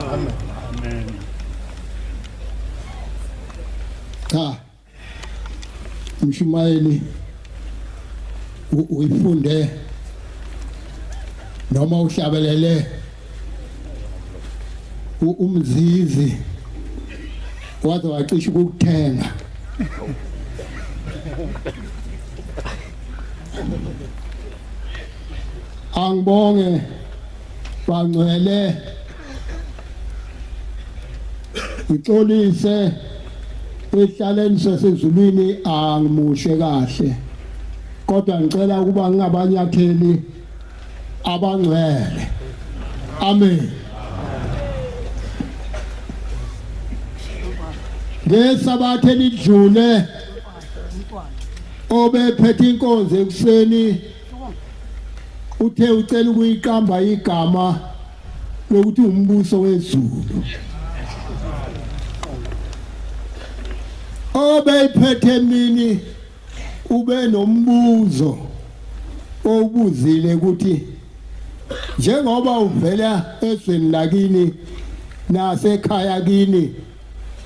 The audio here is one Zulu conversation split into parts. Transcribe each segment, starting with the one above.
Amen. Amen. Cha. Mshumayeli uyifunde noma uhlabelele umzizi waze wacisha ukuthenga angibonge Bangcwele ngixolise ehlaleni sasezulwini angimushe kahle kodwa ngicela ukuba ngingabanyatheli abangcwele amen ngesabatha elidlule obephethe inkonzo ekuseni uthe ucela ukuyiqamba igama lokuthi umbuso wezulu obeyiphethe emini ube nombuzo owubuzile ukuthi njengoba uvela ezweni lakini nasekhaya kini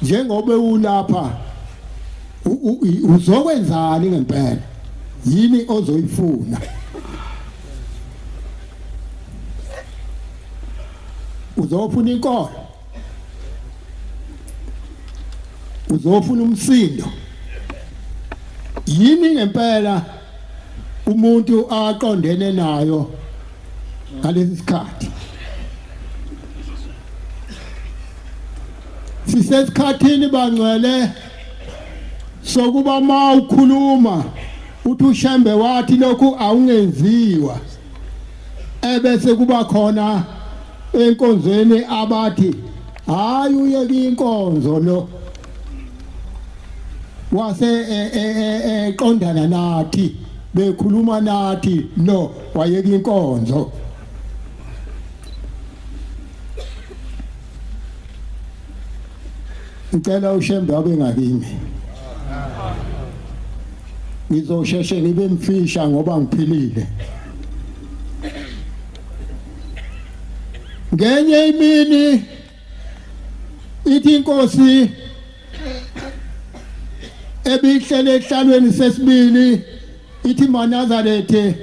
njengoba ulapha uzokwenzani ngempela yini ozoyifuna uzofuna inkolo uzofuna umsindo yini ngempela umuntu aqondene nayo ngalesi sikhathi sisesikhathini bangcwele sokuba ma ukhuluma uthi ushembe wathi lokhu awungenziwa ebese kuba khona enkonzweni abathi hayi uyeke inkonzo lo wase eqondana e, e, e, nathi bekhuluma nathi no wayeka inkonzo ngicela ushembe abe ngakimi ngizosheshe ngibe mfisha ngoba ngiphilile ngenye imini ithi inkosi ebihlele ehlalweni sesibili ithi manazarethe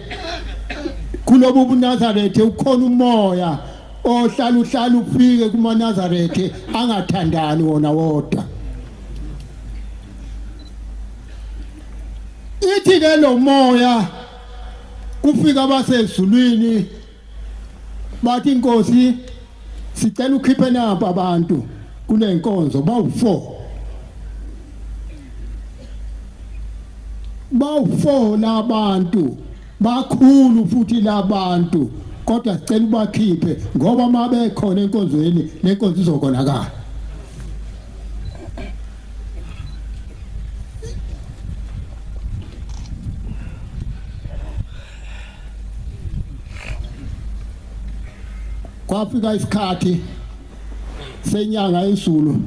kulobu bunazarethe ukhona umoya ohlala uhlala ufike kumanazarethe angathandani wona wodwa ithi ke lo moya kufika abasezulwini bathi inkosi sicela ukhiphe nampa abantu kule nkonzo bawu-4 bawu-4 labantu bakhulu futhi labantu kodwa sicela ubakhiphe ngoba uma bekhona enkonzweni le nkonzo izokonakala kwafika isikhathi senyanga yezulu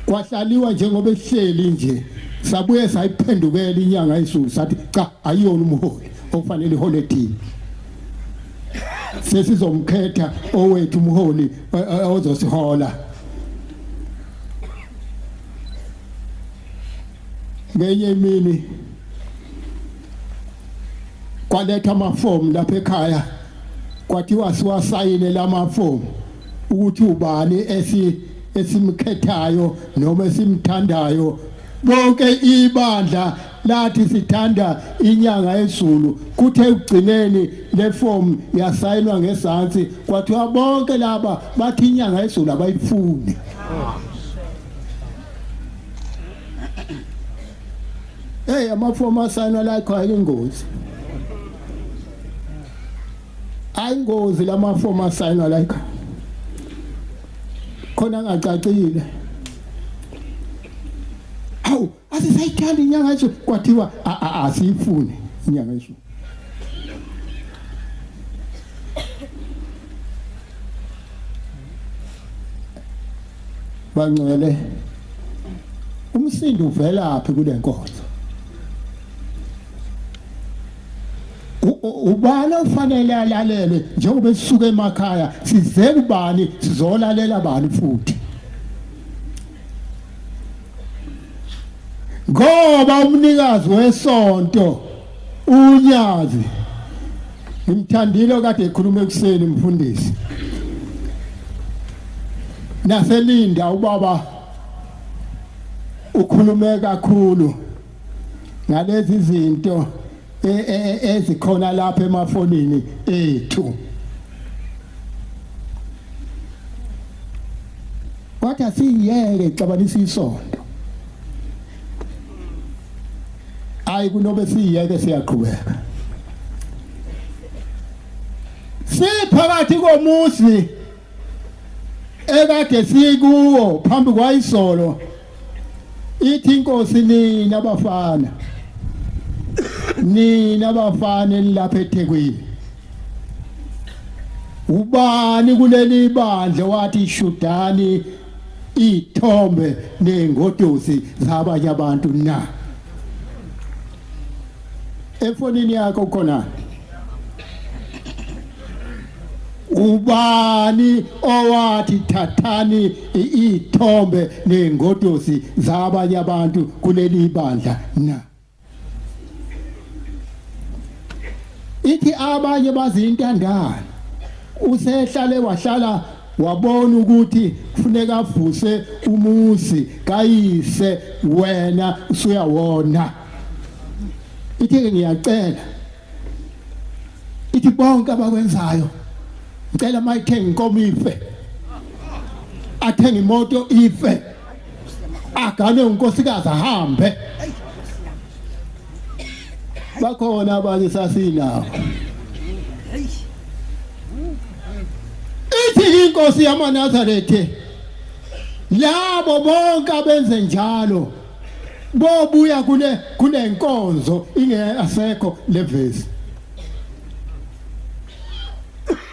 kwahlaliwa njengoba ehleli nje sabuye sayiphendukela inyanga yezulu sathi cha ayiyona umholi okufanele ihole thina sesizomkhetha owethu umholi eh, eh, ozosihola ngenye imini kwaletha amafomu lapha ekhaya kwathiwa siwasayine lamafomu ukuthi ubani esi esimkhethayo noma esimthandayo bonke ibandla lathi sithanda inyanga ezulu kuthe ugcineni leform yasayinwa ngesantsi kwathiwa bonke laba bathi inyanga ezulu abayifuni Hey amafomu asayinwa la ekhaya ingozi. Ayingozi lamafomu asayinwa la ekhaya. Khona ngacacile. Awu asisayithanda inyanga nje kwathiwa asiyifuni inyanga nje. bangcwele umsindo uvelaphi kule nkonzo ubani ofanele alalelwe njengoba sisuka emakhaya size kubani sizolalela bani futhi ngoba umnikazi wesonto Unyazi ngimthandile okade ekhuluma ekuseni mfundisi naselinda ubaba ukhulume kakhulu ngalezi zinto e, e, e, ezikhona lapha emafonini ethu kodwa siyeke xabanisa isonto hayi kunobe siyeke siyaqhubeka siphakathi komuzi ekade sikuwo phambi kwayisolo ithi inkosi nina bafana nina bafana elilapha eThekwini ubani kuleli bandla wathi shudani iy'thombe ney'ngodusi zabanye abantu na efonini yakho khona ubani owathi thathani iy'thombe ney'ngodusi zabanye abantu kuleli bandla na ithi abanye bazintandane usehlale wahlala wabona ukuthi kufuneka avuse umuzi kayise wena usuyawona ithi ngiyacela ithi bonke abakwenzayo ngicela mayithenge inkomo ife athenge imoto ife agane unkosikazi ahambe bakhona abanye sasinawo ithi inkosi yamanazarethe labo bonke abenze njalo bobuya kule kule nkonzo ingeyasekho levesi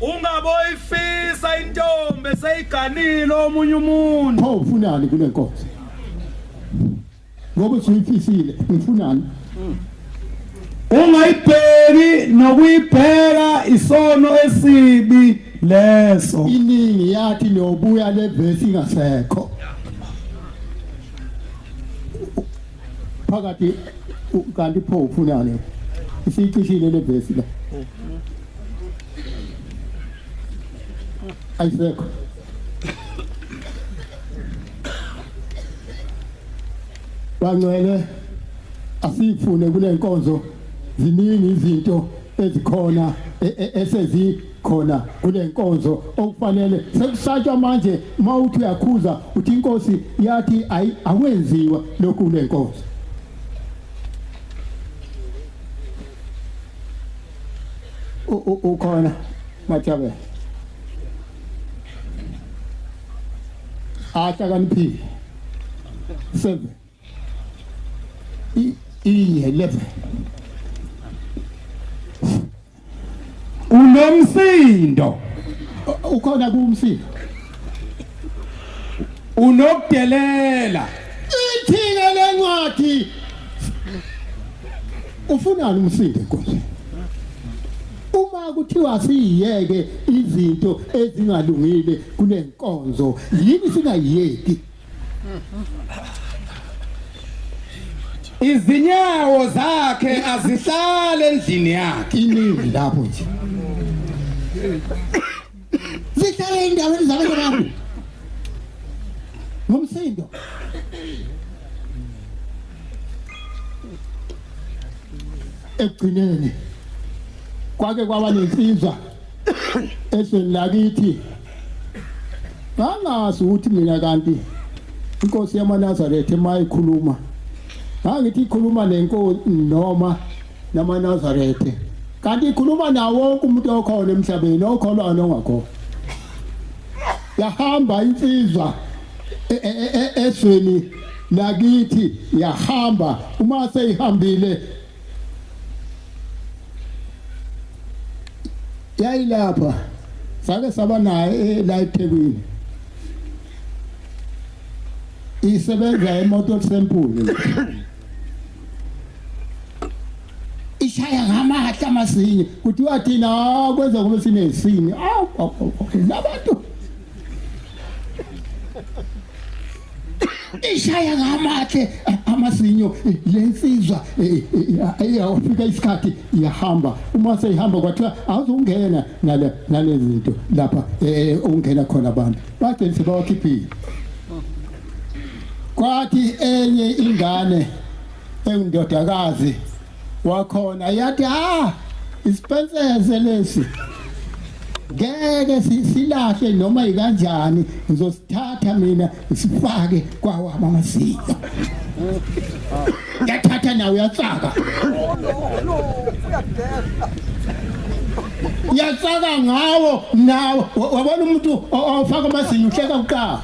Ungaboyifisa intombi eseyiganile omunye umuntu. Pho ufunani kule nkonzo? Ngoba usuyifisile, ngifunani? Ungayibheki nokuyibheka isono esibi leso. Iningi yathi nobuya le verse ingasekho. phakathi kanti pho ufunani isicishile le vesi la ayisekho bangcwele asifune kule nkonzo ziningi izinto ezikhona e, e, esezi khona kule nkonzo okufanele sekusatshwa manje uma uthi uyakhuza uthi inkosi yathi ayi akwenziwa lokhu kule nkonzo ukhona majabe ahlakaniphile seven i-11 unomsindo ukhona kumsindo unokudelela ithina lencwadi ufunani umsindo enkonzweni uma kuthiwa siyiyeke izinto ezingalungile kule nkonzo yini singayiyeki izinyawo zakhe azihlale endlini yakhe iningi lapho nje zihlale endaweni zabantu bami ngomsindo ekugcineni kwake kwaba nensizwa ezweni lakithi ngangazi ukuthi mina kanti inkosi yamanazaretha uma ikhuluma ngangithi ikhuluma nenkosi noma namanazaretha kanti ikhuluma nawo wonke umuntu okhona emhlabeni okholwayo nongakhona yahamba insizwa e, e, e, ezweni lakithi yahamba uma seyihambile yayilapha sake saba naye eh, la eThekwini isebenza emoto sempule ishaya ngamahla amasinye kuthiwa thina ah, kwenza kube sinesini awu ah, ah, ah, labantu ishaya ngamathe amazinyo lensizwa iyawafika isikhathi iyahamba uma seyihamba kwathiwa awuzungena ngale ngale zinto lapha ungena khona abantu bagcina sebawakhiphile kwathi enye ingane engindodakazi wakhona yathi ah isipensese lesi ngeke silahle noma yikanjani ngizosithatha mina ngisifake kwawami amazinyo ngiyathatha nawe uyatsaka uyatsaka ngawo nawo wabona umuntu ofaka amazinyo uhleka kuqala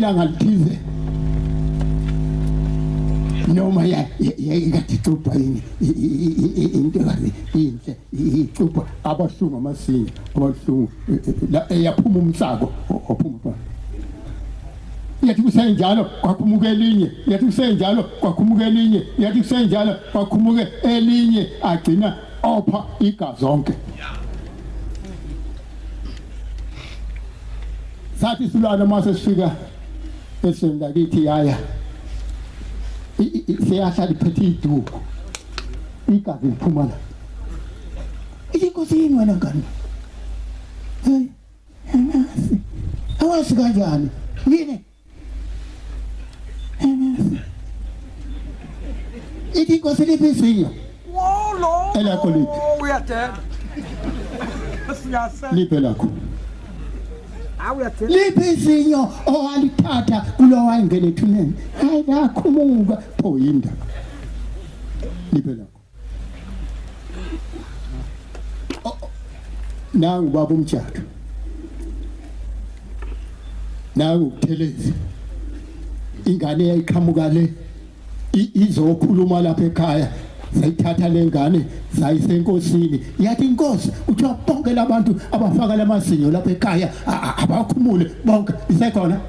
ilanga lithize noma yakade ixubha into kazi inhle icupha abahlungu amasinga abahlungu eh, eh, la eyaphuma umsako ophuma umsako yathi kusenjalo kwakhumuka elinye yathi kusenjalo kwakhumuka elinye yathi kusenjalo kwakhumuka elinye agcina opha igazi zonke sathi silwana mase sifika esweni lakithi yaya siyahlala iphethe iduku igazi liphuma la inkosi yini wena ngane hey anasi awazi kanjani yini anasi ithi inkosi liphisinya wolo elakho lithi uyadela siyasela liphe lakho liphi izinyo owalithatha kulowa ingene ethuneni hayi kakhumuka pho yindaba Niphe nakho. Oh, oh. Nangu baba umjadu. Nangu ukuthelezi. Ingane yayiqhamuka le izokhuluma lapha ekhaya sayithatha lengane sayise enkosini yathi inkosi kuthiwa bonke labantu abafaka lamazinyo lapha ekhaya abakhumule bonke isekhona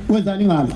wenzani ngalo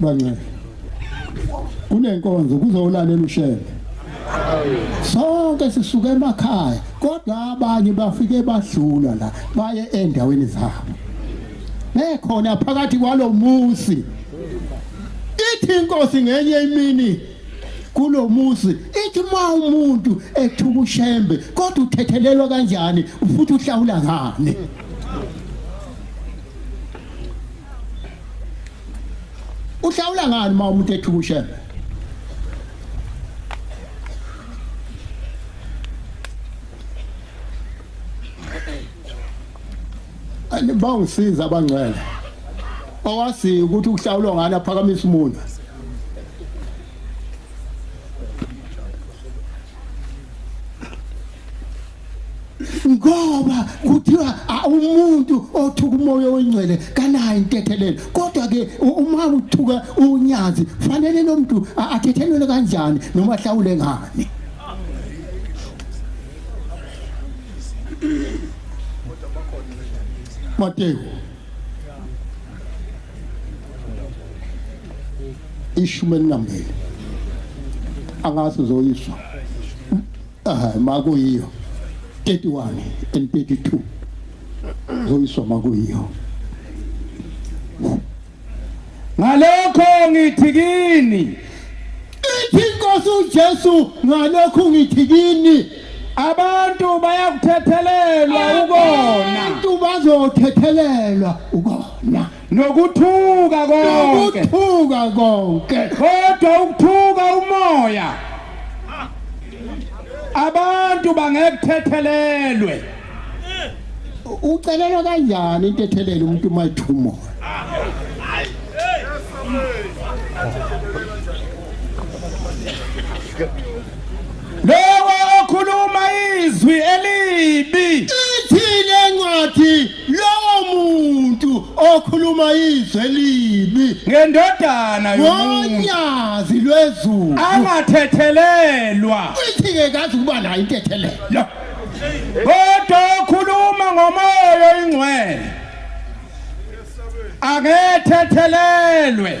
Banxele. Kunenkonzo kuzolalela ushele. Sonke sisuke emakhaya kodwa abanye bafike badlula la baye endaweni zabo. Bekhona phakathi kwalomusi. Ithi inkosi ngenye imini kulomuzi ithi uma umuntu ethuka ushembe kodwa uthethelelwa kanjani futhi uhlawula ngani uhlawula ngani uma umuntu ethuka ushembe bawungisiza abangcwele owaziyo ukuthi ukuhlawulwa ngani aphakamisa umuntu ngoba kuthiwa umuntu othuka umoya oyingcwele kanayo intethelelo kodwa ke uma uthuka unyazi fanele lo muntu athethelele kanjani noma ahlawule ngani Mateyu ishumi elinambili angazi uzoyiswa Ah makuyiyo 31 and 32 zoyiswa makuyiyo ngalokho ngithi kini ithi inkosi uJesu ngalokho ngithi kini abantu bayakuthethelelwa ukona abantu bazothethelelwa ukona nokuthuka konke nokuthuka konke kodwa ukuthuka umoya abantu bangekuthethelelwe ucelelwa kanjani intethelelo umuntu uma ethuma lowo okhuluma izwi elibi ithile ncwadi Lowo muntu okhuluma izwe elibi ngendodana yomuntu ngonyazi lwezulu angathethelelwa uyithi-ke kazi ukuba nayo intethelelo Lo. kodwa okhuluma ngomoya oyingcwele angethethelelwe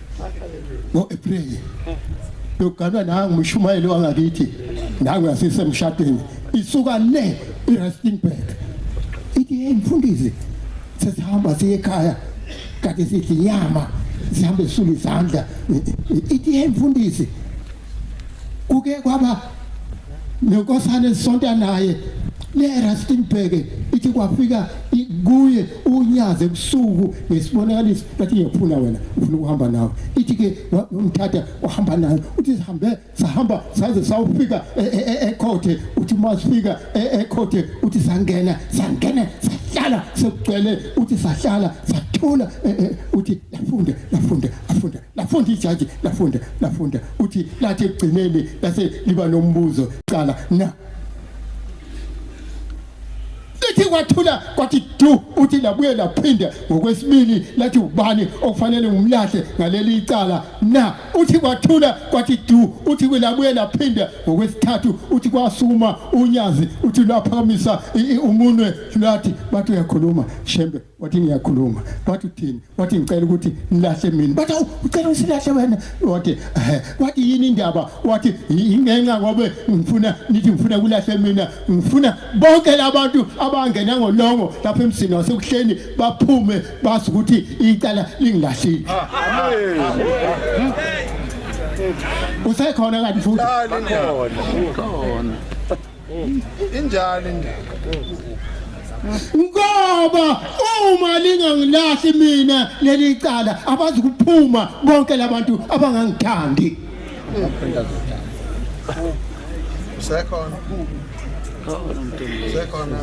ngo-april yokuganwa nangu umshumayeli wangakithi nangu yasisemshadweni isuka le irustenburg ithi hey mfundisi sesihamba siye ekhaya kade sidla inyama sihambe sisula izandla ithi hey mfundisi kuke kwaba nenkosana esonta naye leRustenburg ithi kwafika kuye unyaze ebusuku ngesibonakaliso bathi ngiyaphula wena ufuna ukuhamba nawe ithi ke umthatha uhamba nayo uthi sihambe sahamba saze sawufika e, e, e, ekhothe uthi uma sifika ekhothe uthi sangena sangena sahlala sekugcwele uthi sahlala sathula uthi lafunda lafunda afunda lafunda ijaji lafunda lafunda uthi lathi ekugcineni lase liba nombuzo qala na lithi kwathula kwathi du uthi labuye laphinde ngokwesibili lathi ubani okufanele ngumlahle ngaleli icala na uthi kwathula kwathi du uthi kulabuye laphinde ngokwesithathu uthi kwasuma unyazi uthi lwaphakamisa umunwe lwathi bathi uyakhuluma shembe wathi ngiyakhuluma wathi uthini wathi ngicela ukuthi nilahle mina bathi awu ucela usilahle wena wathi ehe wathi yini indaba wathi ingenxa ngobe ngifuna nithi ngifuna kulahle mina ngifuna bonke labantu abangena ngolongo lapha emsini wasekuhleni baphume bazi ukuthi icala lingilahlile usekhona kanti futhi khona injalo indaba ngoba uma lingangilahli mina leli cala abazi kuphuma bonke labantu abangangithandi usekhona usekhona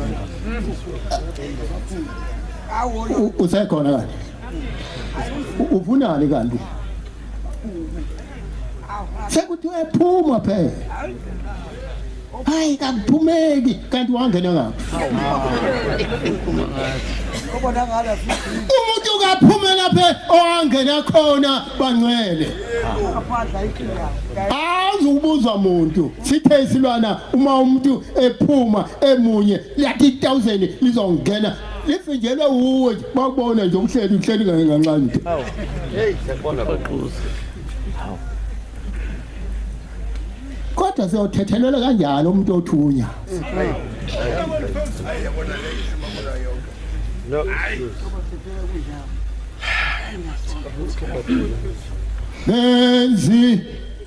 usekhona kanti ufunani kanti sekuthiwe phuma phela hayi kakuphumeki kanti wangena ngaphi umuntu kaphumela phe owangena khona bangcwele azi ukubuzwa muntu sithe isilwana uma umuntu ephuma emunye liyathi 1000 lizongena livinjelwe wuwe nje bakubona nje umhleli umhleli ngeke nganxanye nje hawu hey siyabona baquza hawu kodwa siyothethelela kanjalo umuntu othunya no benzi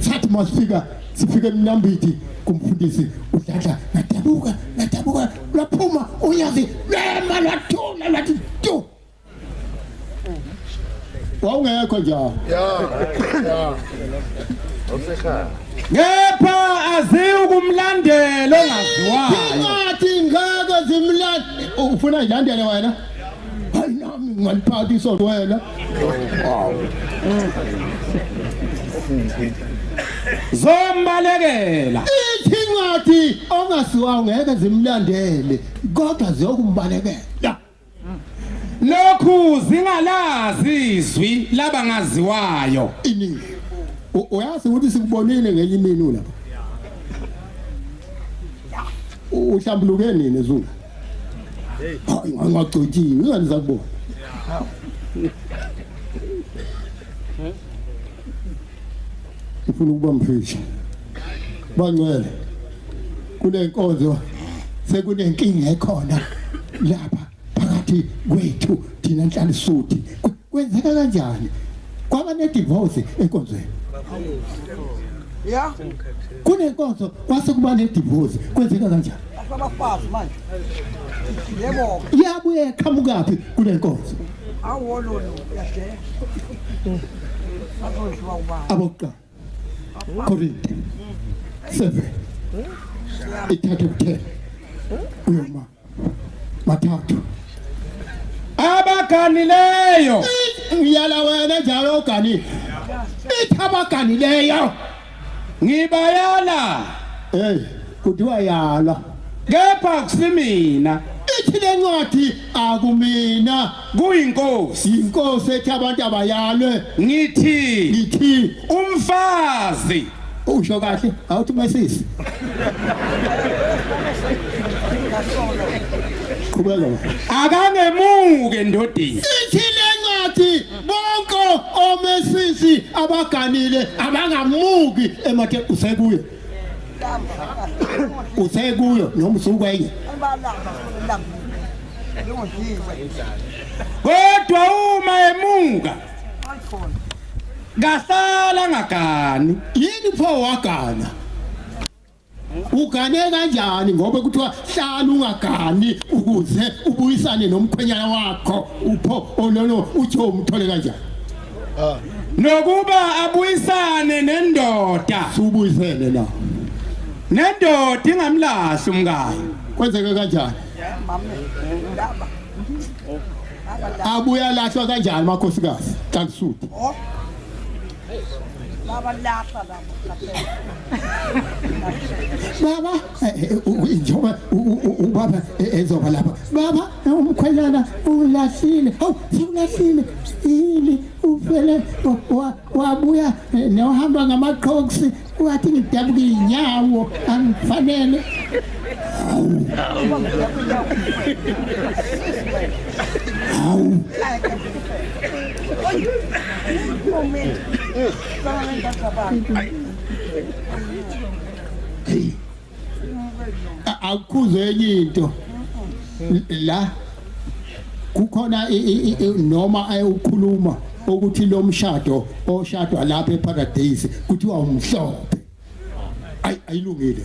thathi masifika sifike emnambiti kumfundisi udladla ngadabuka ngadabuka lwaphuma unyazi lwema lwathula lwathi tu wawungekho njalo ngepha aziwukumlandela ongaziwayo ngathi ngeke zimlande ufuna ilandele wena hayi nami ngingaliphatha isonto wena zombalekela ithi incwadi ongasiwa ngeke zimlandele kodwa ziyokumbalekela lokhu zingalazi izwi labangaziwayo iningi U- uyazi ukuthi sikubonile ngenye imini lapha uhlambuluke nini zungu ngagcotshiwe ingane zakubona ufuna ukuba mfisha bangcwele kule nkonzo sekunenkinga ekhona lapha phakathi kwethu thina nhlalisuthu Kwenzeka kanjani? Kwaba ne divorce enkonzweni. Yeah. Kunenkonzo kwase kuba ne divorce. Kwenzeka kanjani? Abafazi manje. Yebo. Iyabuye qhamukaphi kunenkonzo? Awolo lo yashe. Azodliwa ubani? Abokuqala. Korinte. 7. Ithathe kuphela. Uyoma. bathathu abaganileyo uyala wena njalo oganile ithi abaganileyo ngibayala hey kuthiwa yala kepha akusimina ithi lencwadi akumina kuyinkosi yinkosi ethi abantu abayalwe ngithi ngithi umfazi usho kahle awuthi mesisi qhubeka akangemuke ndodini ithi lencwadi bonke omesisi abaganile abangamuki emathe usekuye uthe kuyo noma usukwenye kodwa uma emuka kasala ngagani yini pho wagana ugane kanjani ngoba kuthiwa hlala ungagani ukuze ubuyisane nomkhwenyana wakho upho ololo uthi umthole kanjani ah. nokuba abuyisane nendoda subuyisele la nendoda ingamlahli umkayo kwenzeke kanjani abuya lahlwa kanjani makhosikazi xa kusuthe oh. baba eh, eh, njengoba ubaba eh, ezoba lapha baba umkhwenyana ulahlile hawu siwulahlile yini ufele wabuya eh, newuhamba ngamaqhoksi wathi ngidabuka iy'nyawo angifanele hawu hawu Hey. akukhuzwe enye into la kukhona noma ayewukhuluma ukuthi lo mshado oshadwa lapha eparadise kuthiwa umhlophe ayilungile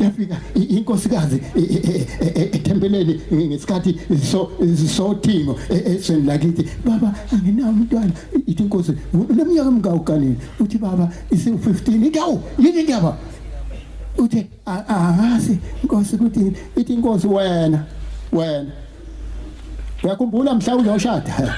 yafika inkosikazi e, e, e, ethempeleni ngesikhathi so sothingo esweni lakithi baba anginawo umntwana ithi inkosi unomnyaka mngawu kanini uthi baba isiwu 15 idawu yini indaba uthi angazi inkosi kuthi ithi inkosi wena wena Uyakhumbula mhla uyoshada?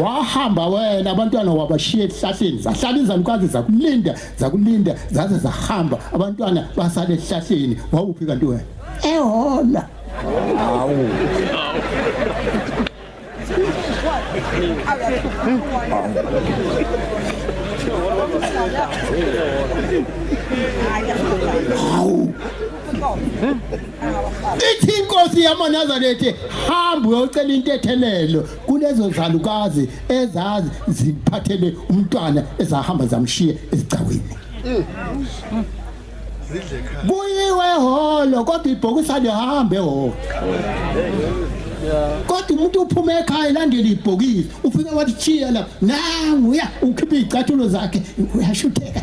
Wahamba wena abantwana wabashiya ehlahleni zahlala izalukazi zakulinda zakulinda zaze zahamba abantwana basala ehlahleni wawuphi kanti wena? Ehona. Hawu. Hawu. ithi inkosi yamanazarethe hamba uyocela intethelelo kulezo zalukazi ezazi ziphathele umntwana ezahamba zamshiye esigcawini kuyiwe ehholo kodwa ibhokisa lihambe ehholo kodwa umuntu uphuma ekhaya elandela ibhokisi ufike wathi chiya la nangu uya ukhipha iy'cathulo zakhe uyashutheka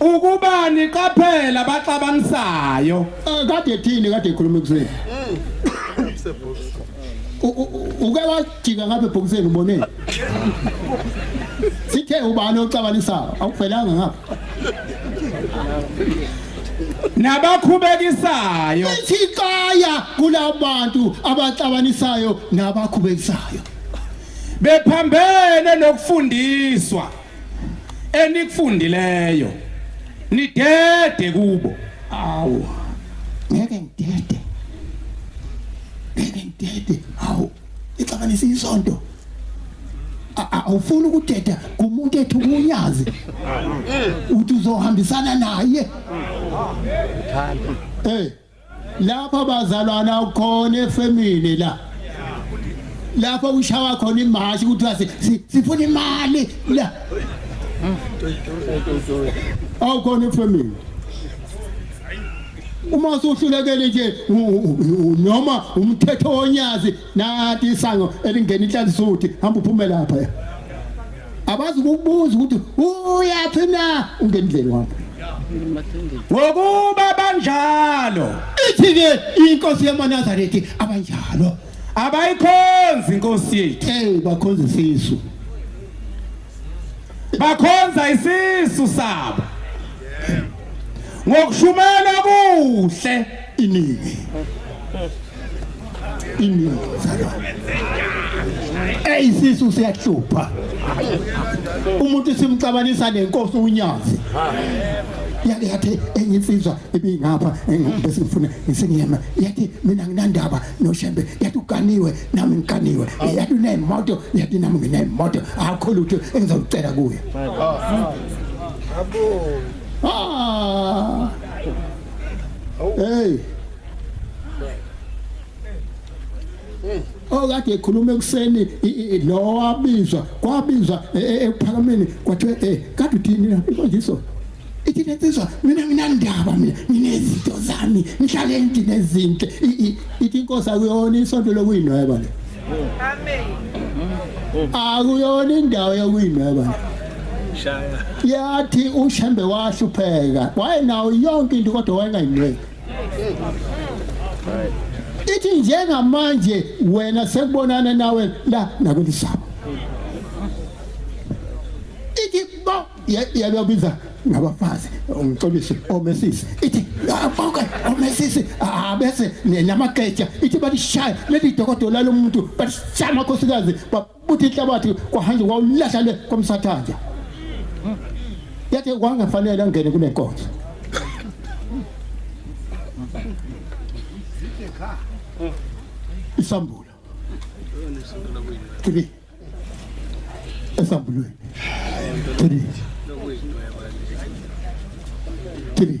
Ukuba niqaphela baxabanisayo. Eh, kade thini kade ekhuluma ekuseni. U- u- u- Uke wajika ngapha ebhokiseni uboneni. Sithe ubani ocabanisayo awuvelanga ngapha. Nabakhubekisayo. Sixaya kulabantu abaxabanisayo nabakhubekisayo. Bephambene nokufundiswa. enikufundileyo nidede kubo awu ngeke ngidede ngeke ngidede awu ixabanisa isonto awufuni ukudeda kumuntu ethu kunyazi uthi uzohambisana naye eh lapha bazalwana khona efemini la lapho kushawa khona imashi kuthiwa sifuna imali la awukhona efemini uma usuhlulekele nje noma umthetho wonyazi nathi isango elingena inhlanzisuthi hamba uphume lapha abazi ukubuza ukuthi uyaphi na ungendleni wakho ngokuba banjalo ithi-ke inkosi yamanazarethi abanjalo abayikhonzi inkosi yethu eyi bakhonza isisu bakhonza isisu sabo ngokushumela kuhle iningi inini eyisisu siyahlupha umuntu simcabanisa nenkosi unyazi yake yathi enye insizwa ibingapha bese ngifuna ngisengiyema yathi mina nginandaba noshembe yathi uganiwe nami ngiganiwe yathi unemoto yathi nami nginemoto akho lutho engizocela kuye abo ah hey okade ekhuluma ekuseni lo wabizwa kwabizwa e, e, ekuphakameni kwathiwa eh kade uthini na imfundiso ithi lensizwa mina nginandaba mina nginezinto zami ngihlale endlini nezinto ithi inkosi akuyona isonto lokuyinweba le amen akuyona indawo yokuyinweba le shaya yathi ushembe wahlupheka wayenawo yonke into kodwa wayengayinweki ithi njengamanje wena sekubonana nawe la nakulisaba ithi bo yabiza ngabafazi umxolisi omesisi ithi bonke omesisi bese namageja ithi balishaya leli dokodola lomuntu balishaya amakhosikazi buthi ihlabathi kwahanje kwawulahla le komsathanja yathi kwangafanele angene kule nkonzo isambulo three esambulweni three three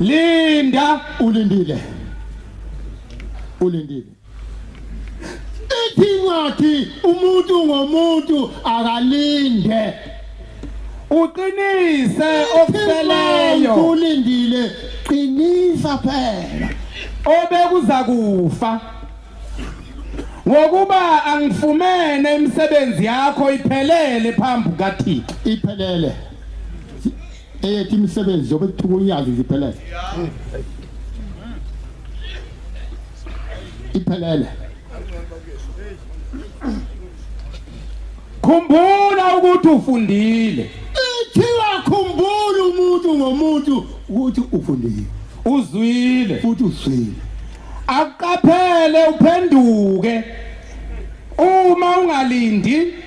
Linda ulindile. Ulindile. Ithi incwadi umuntu ngomuntu akalinde. Uqinise okuseleyo. Ulindile qinisa phela. Obekuza kufa. Ngokuba angifumene imisebenzi yakho iphelele phambi kaThixo. Iphelele. eyethu imisebenzi zobe kuthiwa unyazi ziphelele iphelele khumbula ukuthi ufundile ithiwa khumbula umuntu ngomuntu ukuthi ufundile uzwile futhi uzwile akuqaphele uphenduke uma ungalindi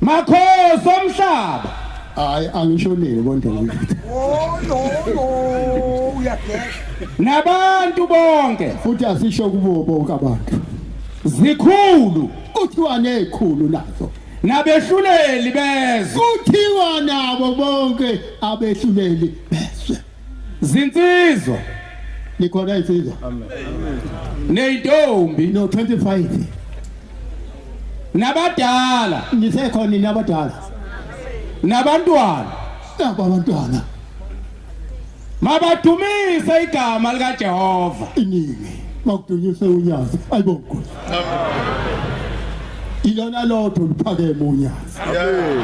Makhosi omhlaba. Hayi angishonile konke ngithi. Oh no no uyageza. Nabantu bonke futhi asisho kubo bonke abantu. Zikhulu kuthiwa nezikhulu nazo. Nabehluleli bezwe. Kuthiwa nabo bonke abehluleli bezwe. Zinsizwa. Nikhona insizwa. Amen. Neyintombi no 25. Nabadala. Nisekhona nina abadala. Nabantwana. Nabo abantwana. Mabadumise igama lika Jehova. Iningi. Makudunyiswe unyazi. Ayibonke. Amen. ilona lodwa oluphakeme unyazi amen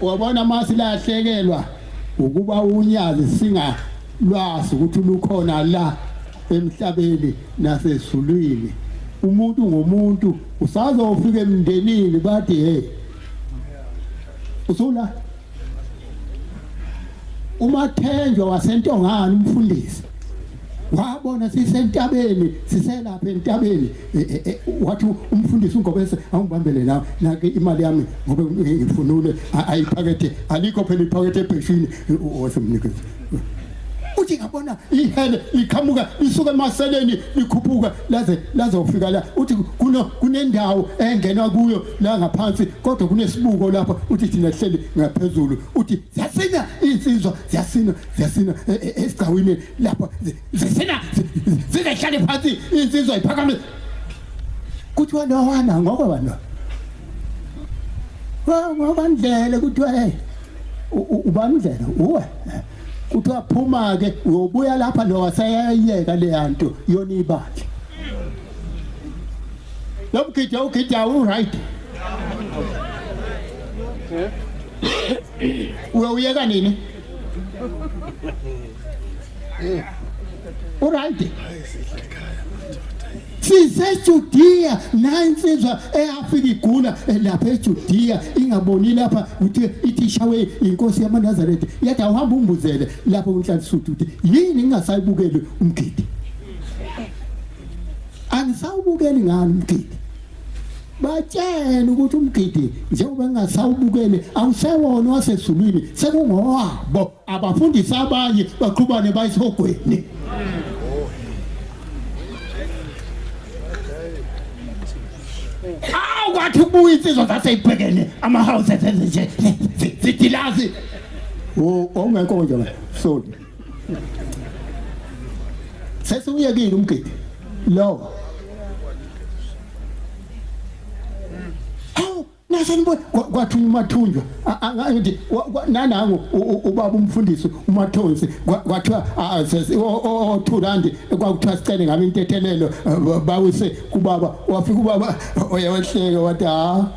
wabona masi lahlekelwa ukuba unyazi singa lwazi ukuthi lukhona la emhlabeni nasezulwini umuntu ngomuntu usazofika emndenini bathi hey usula umathenjwa wasentongana umfundisi wabona sisentabeni siselapha entabeni e, e, e, wathi umfundisi uNgobese awungibambele la nake imali yami ngoba ngifunule ayiphakethe alikho phela iphakethe ebheshini wasemnikeza uthi ngabona ihele liqhamuka lisuka emaseleni likhuphuka laze lazofika la uthi kuno kunendawo engenwa kuyo la ngaphansi kodwa kunesibuko lapha uthi thina sihleli ngaphezulu uthi siyasina insizwa siyasina siyasina e, e, esigcawini lapho zisina zizehlale phansi insizwa iphakame kuthiwa nowana ngoko bano ngobandlela kuthiwa hey ubandlela uwe kuthiwa phuma ke uyobuya lapha lo waseyayeka leyanto yona ibandla lo mgidya ugidya uright uyawuyeka nini Uright. sisejudiya nayi insizwa eyafika igula lapha ejudiya ingaboni lapha ukuthi ithi ishawe inkosi yamanazaretha yathi awuhambe umbuzele lapho kunhlanhlisudu ukuthi yini ngingasayibukeli umgidi angisawubukeli ngani umgidi batshele ukuthi umgidi njengoba engasawubukele awusewona wasezulwini sekungowabo abafundisa abanye baqhubane bayisihogweni awu kwathi ubuya insizwa zaseyibhekene ama-houses ezinje zidilazi ongekho nje la soli sesiwuyekile umgidi lowo nasanibona kwathi umathunjwa ngithi nanangu ubaba umfundisi umathonsi kwathiwa othulandi kwakuthiwa sicele ngami intethelelo bawise kubaba wafika ubaba oyewehleke wathi ha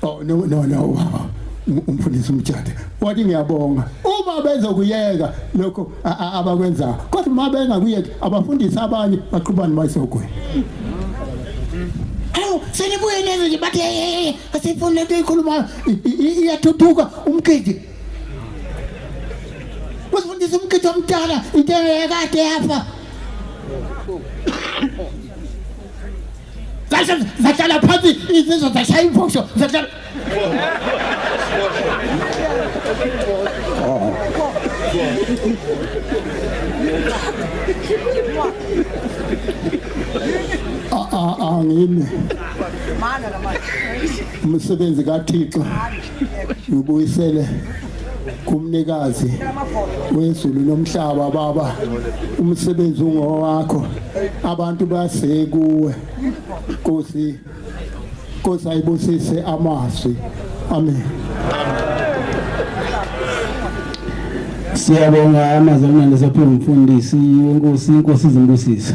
oh no no no wow umfundisi umtshade wathi ngiyabonga uma bezokuyeka lokho abakwenzayo kodwa uma bengakuyeki abafundisi abanye baqhubani bayisogwini hawu senibuye neze nje bathi asifuni lento ikhuluma iyathuthuka umgidi usifundisa umgidi omdala into ekade yafa Zashe zahlala phansi izizwe zashaya imfosho zahlala Ah ah ah ngine. Umsebenzi kaThixo. ngibuyisele kumnikazi wezulu nomhlaba baba umsebenzi ungowakho abantu basekuwe Nkosi Nkosi ayibusise amazwi amen Siyabonga amazwi amnandi sephume umfundisi wenkosi inkosi izimbusisa